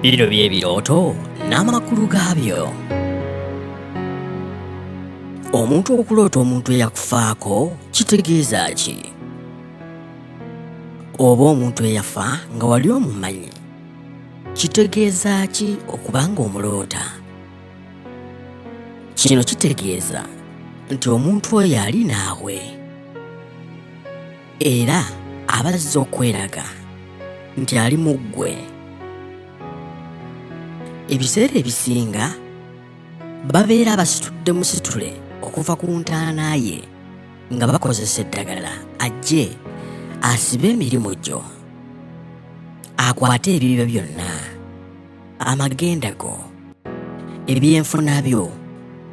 Bino bye birooto n'amakulu gaabyo. Omuntu okuloota omuntu eyakufaako kitegeeza ki? Oba omuntu eyafa nga wali omumanyi kitegeeza ki okuba ng'omuloota? Kino kitegeeza nti omuntu oyo ali naawe. era abazze okweraga nti ali mu ggwe ebiseera ebisinga babeera basitudde musitule okuva ku ntaana ye nga bakozesa eddagala ajje asibe emirimu gyo akwate ebibyo byonna amagenda go ebyenfuna byo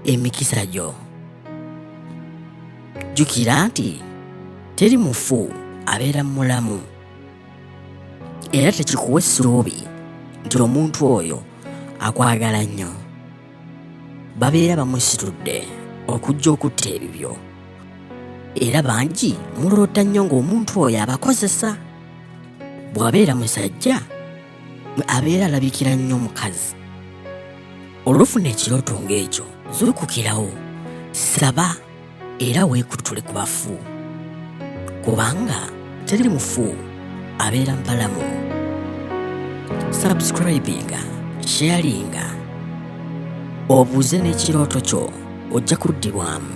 emikisa gyo jjukira nti teri mufu abeera mulamu era tekikuwa essuubi nti omuntu oyo akwagala nnyo babeera bamusitudde okujja okutta ebibyo era bangi muloota nnyo ng'omuntu oyo abakozesa bw'abeera musajja abeera alabikira nnyo omukazi olwofuna ekirooto ng'ekyo zukukirawo saba era weekutule ku bafu kubanga teri mufu abeera mbalamu subscribinga sharinga obuuze n'ekirooto kyo ojja kuddibwamu